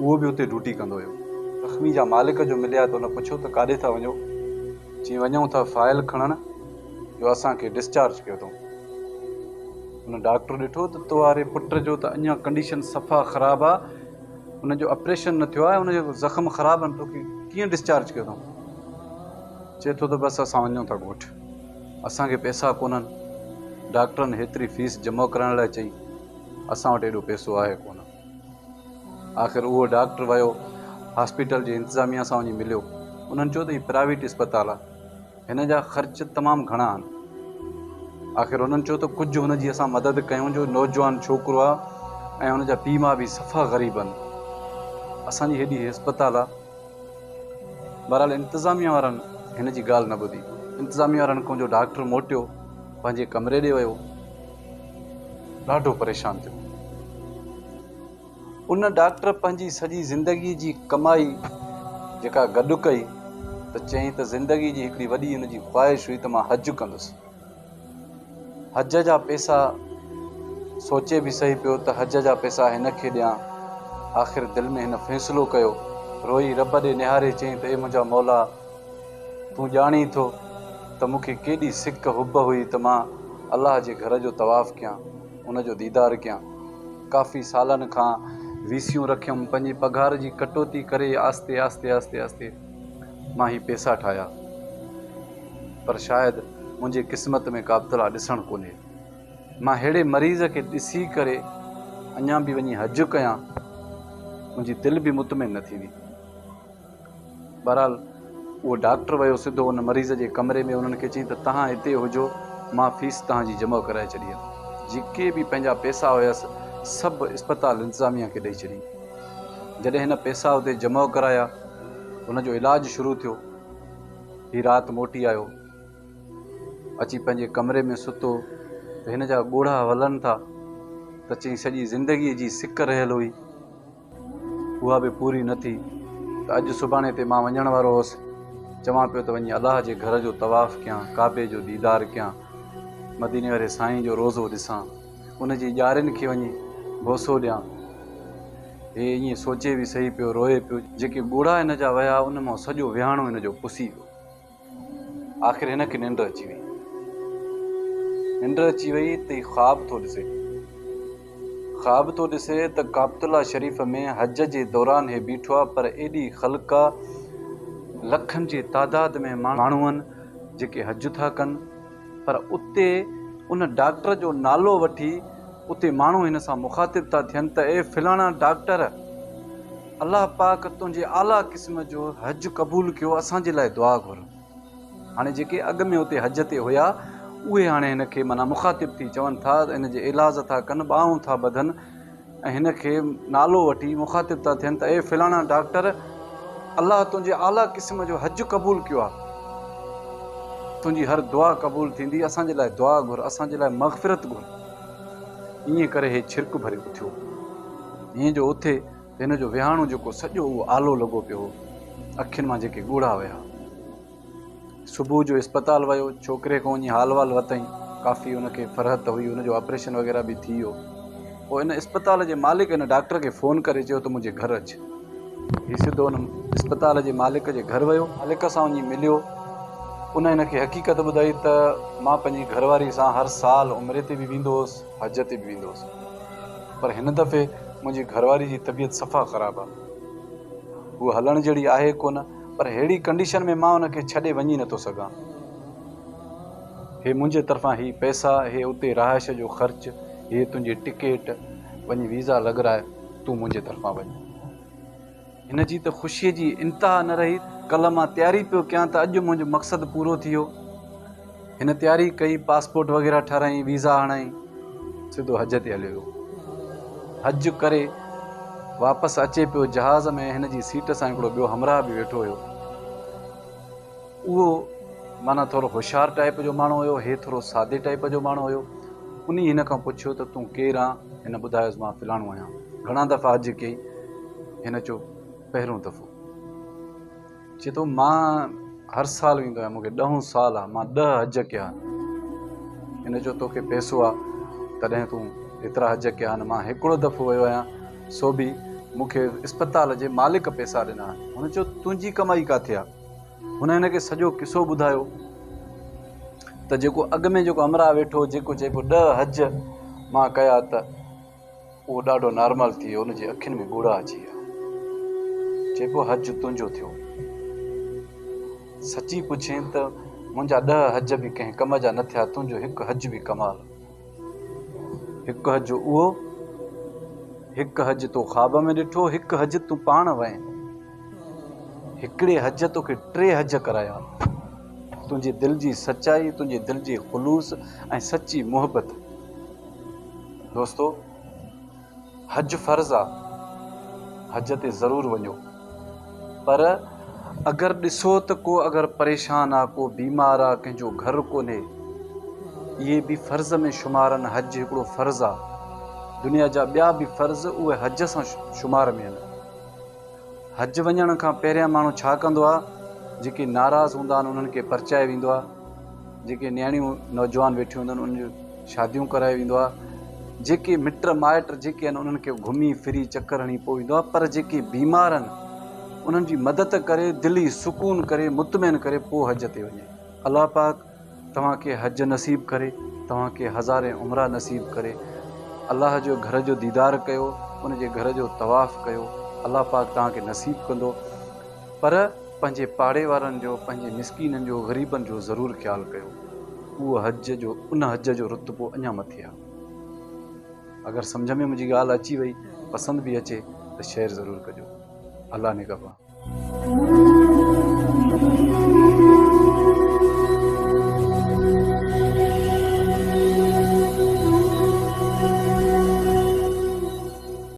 اهو به اتي ڊيوٽي ڪندو هيو. زخمي جا مالڪ جو مليا ته هن پڇيو ته ڪاڏي ٿا وڃو؟ چيائين وڃون ٿا فائل کڻڻ جو اسان کي ڊسچارج ڪيو اٿئون. هن ڊاڪٽر ڏٺو ته توهاري پٽ جو ته اڃا ڪنڊيشن صفا خراب آ هن جو اپريشن نه ٿيو آ ۽ هن جا زخم خراب آهن توکي ڪيئن ڊسچارج ڪيو اٿئون؟ چئي ٿو ته بس اسان وڃون ٿا ڳوٺ اسان کي پئسا ڪونهن ڊاڪٽرن هيتري فيس جمع ڪرائڻ لاء چئي. اسان وٽ ايڏو پيسو آهي ڪونه. آخر اهو ڊاڪٽر ويو هاسپيٽل جي انتظاميه سان وڃي مليو. انهن چيو ته هي پرائيويٽ اسپتال آهي. هن جا خرچ تمام گهڻا آهن. آخر هنن چيو ته ڪجهه هن جي اسان مدد ڪيون جو نوجوان ڇوڪرو آهي ۽ هن جا پيء ماء به صفا غريب آهن. اسان جي هيڏي هسپتال آهي. بهرحال انتظاميه وارن هن جي ڳالهه نه ٻڌي. انتظاميه وارن کون جو ڊاڪٽر موٽيو پنهنجي ڪمري ڏي ويو. ڏاڍو پريشان ٿيو. ان ڊاڪٽر پنهنجي سڄي زندگيء جي ڪمائي جيڪا گڏ ڪئي ته چيائين ته زندگيء جي هڪڙي وڏي ان جي خواهش هئي ته مان حج ڪندس. حج جا پئسا سوچي به سهي پيو ته حج جا پئسا هن کي ڏيان. آخر دل ۾ هن فيصلو ڪيو. روئي رب ڏي نهاري چيائين ته اي منهنجا مولا! تون ڄاڻين ٿو ته مون کي ڪيڏي سڪ حب هئي ته مان الله جي گهر جو طواف ڪيان، ان جو ديدار ڪيان. ڪافي سالن کان ويسيون رکيم، پنهنجي پگهار جي ڪٽوتي ڪري آهستي آهستي آهستي آهستي مان هي پيسا ٺاهيا. پر شايد منهنجي قسمت ۾ ڪابتلا ڏسڻ ڪونهي. مان ههڙي مريض کي ڏسي ڪري اڃا به وڃي حج ڪيان، منهنجي دل به مطمئن نه ٿيندي. بهرحال اهو ڊاڪٽر ويو سڌو ان مريض جي ڪمري ۾ انهن کي چيائين ته تهان هتي هجو مان فيس تهان جي جمع ڪرائي ڇڏي آهي. جيڪي به پنهنجا پئسا هيس سڀ اسپتال انتظاميه کي ڏئي ڇڏي. جڏهن هن پئسا اتي جمع ڪرايا هن جو علاج شروع ٿيو. هي رات موٽي آيو اچي پنهنجي ڪمري ۾ ستو ته هن جا ڳوڙها ولن ٿا ته چيائين سڄي زندگي جي سڪ رهيل هئي. اها به پوري نه ٿي ته اڄ سڀاڻي تي مان وڃڻ وارو هوس. چوان پيو ته وڃي الله جي گهر جو طواف ڪيان، ڪعبي جو ديدار ڪيان، مديني واري سائين جو روضو ڏسان، ان جي ڄارين کي وڃي بوسو ڏيان. هي ائين سوچي به سهي پيو، روئي پيو. جيڪي ڳوڙها هن جا وهيا، ان مان سڄو وهاڻو هن جو پسي ويو. آخر هن کي ننڊ اچي وئي. ننڊ اچي وئي ته هي خواب ٿو ڏسي. خواب ٿو ڏسي ته ڪابت الله شريف ۾ حج جي دوران هي بيٺو آهي پر ايڏي خلق آهي لکن جي تعداد ۾ ماڻهو آهن جيڪي حج ٿا ڪن پر اتي ان ڊاڪٽر جو نالو وٺي اتي ماڻهو هن سان مخاطب ٿا ٿين ته اي فلاڻا ڊاڪٽر الله پاڪ تنهنجي اعليٰ قسم جو حج قبول ڪيو اسان جي لاء دعا گهر. هاڻي جيڪي اڳ ۾ اتي حج تي هيا اهي هاڻي هن کي معنيٰ مخاطب ٿي چون ٿا ته هن جي ايلاز ٿا ڪن ٻانهون ٿا ٻڌن ۽ هن کي نالو وٺي مخاطب ٿا ٿين ته اي فلاڻا ڊاڪٽر الله تنهنجي اعليٰ قسم جو حج قبول ڪيو آ تنهنجي هر دعا قبول ٿيندي اسان جي لاء دعا گهر اسان جي لاء مغفرت گهر ائين ڪري هي ڇرڪ ڀري اٿيو جيئن جو اٿي ته هن جو ويهاڻو جيڪو سڄو اهو آلو لڳو پيو هو اکين مان جيڪي ڳوڙها ويا. صبح جو اسپتال ويو ڇوڪري کان وڃي حال وال ورتائين ڪافي ان کي فرحت ته هئي ان جو آپريشن وغيره به ٿي ويو پوء ان اسپتال جي مالڪ ان ڊاڪٽر کي فون ڪري چيو ته منهنجي گهر اچ هي سڌو ان اسپتال جي مالڪ جي گهر ويو مالڪ سان وڃي مليو ان ان کي حقيقت ٻڌائي ته مان پنهنجي گهر واري سان هر سال عمري تي به ويندو هوس حج تي به ويندو هوس پر هن دفعي منهنجي گهرواري جي طبيعت صفا خراب آهي. هوء هلڻ جهڙي آهي ڪونه پر ههڙي ڪنڊيشن ۾ مان هن کي ڇڏي وڃي نه ٿو سگهان. هي منهنجي طرفان هي پئسا، هي اتي رهائش جو خرچ، هيء تنهنجي ٽڪيٽ، وڃي ويزا لڳرائي تون منهنجي طرفان وڃ. هن جي ته خوشيء جي انتها نه رهي، ڪلهه مان تياري پيو ڪيان ته اڄ منهنجو مقصد پورو ٿي ويو. هن تياري ڪئي، پاسپورٽ وغيره ٺاراهيائين، ويزا هڻيائين، سڌو حج تي هليو ويو. حج ڪري واپس اچي پيو، جهاز ۾ هن جي سيٽ سان هڪڙو ٻيو همراهه به ويٺو هيو. اهو معنيٰ ٿورو هوشيار ٽائيپ جو ماڻهو هيو، هي ٿورو سادي ٽائيپ جو ماڻهو هيو. انهيء هن کان پڇيو ته تون ڪير آن؟ هن ٻڌايس مان فلاڻو آهيان. گهڻا دفعا عرض ڪيئي؟ هن چيو پهريون دفعو. چي ٿو مان هر سال ويندو آهيان، مون کي ڏهون سال آ، مان ڏهه حج ڪيا آهن. هن چيو توکي پئسو آ تڏهن تون ايترا حج ڪيا آهن، مان هڪڙو دفعو ويو آهيان، سو به مون کي اسپتال جي مالڪ پئسا ڏنا آهن. هن چيو تنهنجي ڪمائي ڪاٿي آ؟ هن هن کي سڄو قصو ٻڌايو ته جيڪو اڳ ۾ جيڪو همراهه ويٺو جيڪو چئي پيو ڏهه حج مان ڪيا ته اهو ڏاڍو نارمال ٿي ويو ان جي اکين ۾ ڳوڙها اچي ويا چئي پيو حج تنهنجو ٿيو سچي پڇين ته منهنجا ڏهه حج به ڪنهن ڪم جا نه ٿيا تنهنجو هڪ حج به ڪمال هڪ حج اهو، هڪ حج تو خواب ۾ ڏٺو، هڪ حج تون پاڻ وئين. هڪڙي حج توکي ٽي حج ڪرايا. تنهنجي دل جي سچائي، تنهنجي دل جي خلوص ۽ سچي محبت. دوستو! حج فرض آ حج تي ضرور وڃو پر اگر ڏسو ته ڪو اگر پريشان آ ڪو بيمار آ ڪنهن جو گهر ڪونهي اهي به فرض ۾ شمارن حج هڪڙو فرض آ دنيا جا ٻيا به فرض اهي حج سان شمار ۾ آهن حج وڃڻ کان پهريان ماڻهو ڇا ڪندو آ جيڪي ناراض هوندا آهن انهن کي پرچايو ويندو آ جيڪي نياڻيون نوجوان ويٺيون هونديون آهن انهن جون شاديون ڪرايو ويندو آهي جيڪي مٽ مائٽ جيڪي آهن انهن کي گهمي ڦري چڪر هڻي پوء ايندو آهي پر جيڪي بيمار آهن انهن جي مدد ڪري دلي سڪون ڪري مطمئن ڪري پوء حج تي وڃي الله پاڪ توهان کي حج نصيب ڪري توهان کي هزارين عمرا نصيب ڪري الله جو گهر جو ديدار ڪيو ان جي گهر جو طواف ڪيو الله پاڪ توهان کي نصيب ڪندو پر پنهنجي پاڙي وارن جو، پنهنجي مسڪينن جو، غريبن جو ضرور خيال ڪيو. اهو حج جو ان حج جو رتبو اڃا مٿي آهي. اگر سمجهه ۾ منهنجي ڳالهه اچي وئي، پسند به اچي ته شيئر ضرور ڪجو. الله نگهبان.